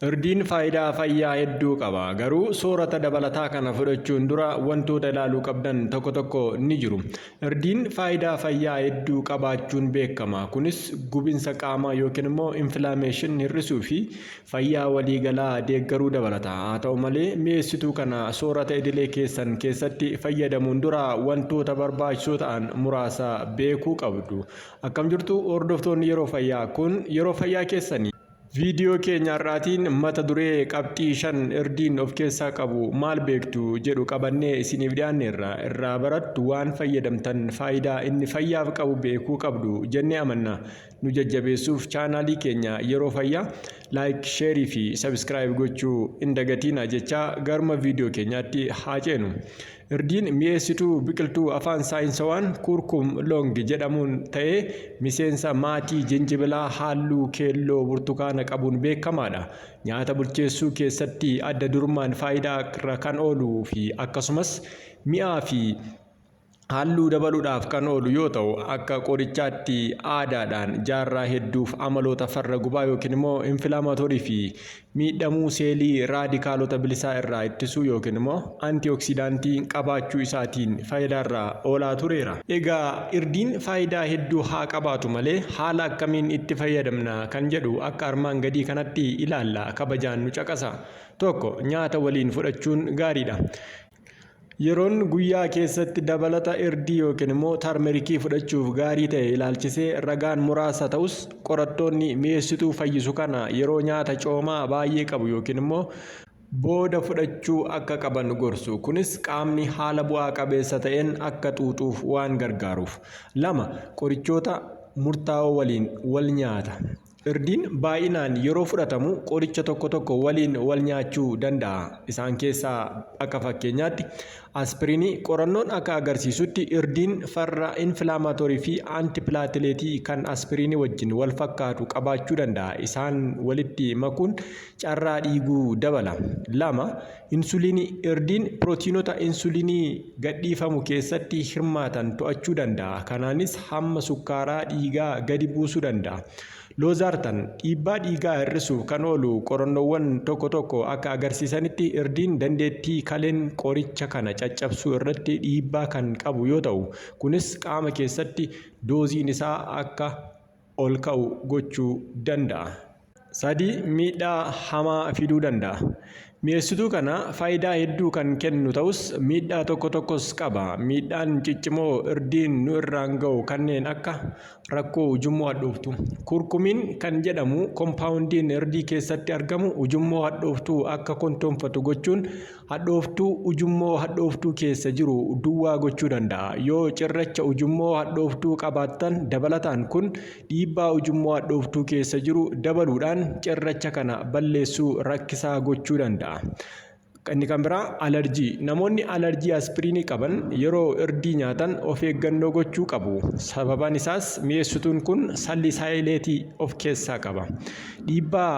Irdiin faayidaa fayyaa hedduu qaba. Garuu soorata dabalataa kana fudhachuun dura wantoota ilaaluu qabdan tokko tokko ni jiru. Irdiin faayidaa fayyaa hedduu qabaachuun beekama. Kunis gubinsa qaamaa yookiin immoo infilaameeshin hir'isuu fi fayyaa waliigalaa deeggaruu dabalata. Haa ta'u malee mi'eessituu kana soorata idilee keessan keessatti fayyadamuun dura wantoota barbaachisoo ta'an muraasa beekuu qabdu. Akkam jirtu hordoftoonni yeroo fayyaa kun yeroo fayyaa keessanii. Viidiyoo keenya har'aatiin mata duree qabxii shan irdiin of keessaa qabu maal beektu jedhu qabannee isiniif dhiyaanneerra irraa barattu waan fayyadamtan faayidaa inni fayyaaf qabu beekuu qabdu jennee amanna nu jajjabeessuuf chaanaalii keenya yeroo fayyaa laayik sheerii fi sabiskiraayib gochuu hin dagatiina jechaa garuma viidiyoo keenyaatti haa ceenu Irdiin mi'eessituu biqiltuu afaan saayinsawaan kuurkum loongi jedhamuun ta'ee miseensa maatii jinjibilaa haalluu keelloo burtukaana qabuun beekamaadha. Nyaata bulcheessuu keessatti adda durummaan faayidaa irra kan oolu fi akkasumas mi'aa fi haalluu dabaluudhaaf kan oolu yoo ta'u akka qorichaatti aadaadhaan jaarraa hedduuf amaloota farra gubaa yookiin immoo infilaamatorii fi Miidhamuu seelii raadikaalota bilisaa irraa ittisuu yookiin immoo antioksidaantii qabaachuu isaatiin faayidaarra oolaa tureera. Egaa irdiin faayidaa hedduu haa qabaatu malee haala akkamiin itti fayyadamna kan jedhu akka armaan gadii kanatti ilaalla kabajaan nu caqasaa. 1, Nyaata waliin fudhachuun gaariidha. Yeroon guyyaa keessatti dabalata irdii yookiin immoo tarmerikii fudhachuuf gaarii ta'e ilaalchisee ragaan muraasa ta'us qorattoonni mi'eessituu fayyisu kana yeroo nyaata coomaa baay'ee qabu yookiin immoo booda fudhachuu akka qaban gorsu. Kunis qaamni haala bu'aa qabeessa ta'een akka xuuxuuf waan gargaaruuf. lama Qorichoota murtaa'oo waliin wal nyaata. Irdiin baay'inaan yeroo fudhatamu qoricha tokko tokko waliin wal nyaachuu danda'a. Isaan keessaa akka fakkeenyaatti aspiriinii qorannoon akka agarsiisutti irdiin farra infilaamaatorii fi antipilaatileetii kan aspiriinii wajjin wal fakkaatu qabaachuu danda'a. Isaan walitti makuun carraa dhiiguu dabala. lama Insuliinii, Irdiin pirootiinota insuliinii gadhiifamu keessatti hirmaatan to'achuu danda'a, kanaanis hamma sukkaaraa dhiigaa gadi buusuu danda'a. Loozaartan, Dhiibbaa dhiigaa hir'isuuf kan oolu qorannoowwan tokko tokko akka agarsiisanitti irdiin dandeettii kaleen qoricha kana caccabsuu irratti dhiibbaa kan qabu yoo ta'u, kunis qaama keessatti dooziin isaa akka ol ka'u gochuu danda'a. 3 miidhaa hamaa fiduu danda'a. Mi'eessituu kana faayidaa hedduu kan kennu ta'us miidhaa tokko tokkos qaba. Miidhaan ciccimoo irdiin nu irraan ga'u kanneen akka rakkoo ujummoo hadhooftuu. Kurkumiin kan jedhamu kompaawundiin irdii keessatti argamu ujummoo hadhooftuu akka kontoonfatu gochuun Hadhooftuu ujummoo hadhooftuu keessa jiru duwwaa gochuu danda'a. Yoo cirracha ujummoo hadhooftuu qabaattan dabalataan kun dhiibbaa ujummoo hadhooftuu keessa jiru dabaluudhaan cirracha kana balleessuu rakkisaa gochuu danda'a. Inni kan biraa alarjii. Namoonni alarjii aspiriinii qaban yeroo irdii nyaatan of eeggannoo gochuu qabu. Sababaan isaas mi'eessituun kun salisaayileetii of keessaa qaba. Dhiibbaa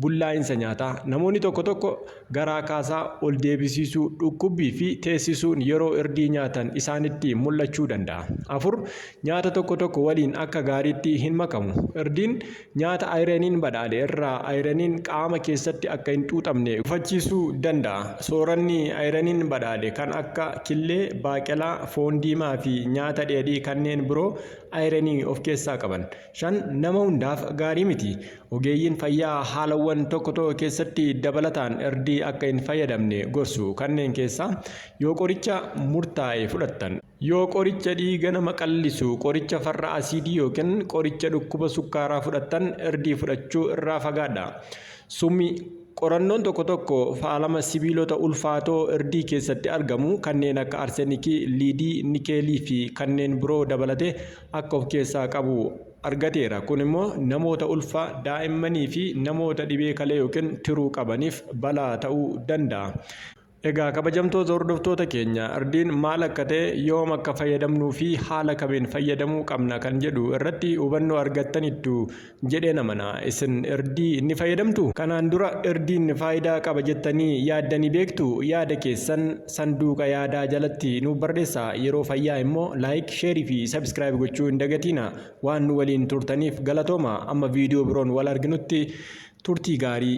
Bullaa'insa nyaataa, Namoonni tokko tokko garaa kaasaa, ol deebisiisuu, dhukkubbii fi teessisuun yeroo irdii nyaatan isaanitti mul'achuu danda'a. 4, Nyaata tokko tokko waliin akka gaariitti hin makamu, Irdiin nyaata ayiraniin badhaadhe irraa ayiraniin qaama keessatti akka hin xuuxamne gufachiisuu danda'a. Sooranni ayiraniin badhaadhe kan akka killee, baaqelaa, foon diimaa fi nyaata dheedhii kanneen biroo ayiranii of keessaa qaban. 5 nama hundaaf gaarii miti. Ogeeyyiin fayyaa haalawwan tokko tokko keessatti dabalataan irdii akka hin fayyadamne gorsu. Kanneen keessaa yoo qoricha murtaa'e fudhattan, yoo qoricha dhiiga nama qallisu, qoricha farra asiidii yookiin qoricha dhukkuba sukkaaraa fudhattan irdii fudhachuu irraa fagaadhaa. Summi Qorannoon tokko tokko faalama sibiilota ulfaatoo irdii keessatti argamu kanneen akka arsenikii, liidii, nikeelii fi kanneen biroo dabalatee akka of keessaa qabu argateera. Kun immoo namoota ulfaa, daa'immanii fi namoota dhibee kalee yookiin tiruu qabaniif balaa ta'uu danda'a. Egaa kabajamtoota hordoftoota keenya ardiin maal akka ta'e, yoom akka fayyadamnuu fi haala kamiin fayyadamuu qabna kan jedhu irratti hubannoo argattanittu jedheen amana. Isin irdii ni fayyadamtu? Kanaan dura irdiin faayidaa qaba jettanii yaaddanii beektu? Yaada keessan sanduuqa yaadaa jalatti nuuf barreessaa. Yeroo fayyaa immoo like, share fi subscribe gochuu hin dagatiina. Waan nu waliin turtaniif galatooma. Amma viidiyoo biroon wal arginutti turtii gaarii.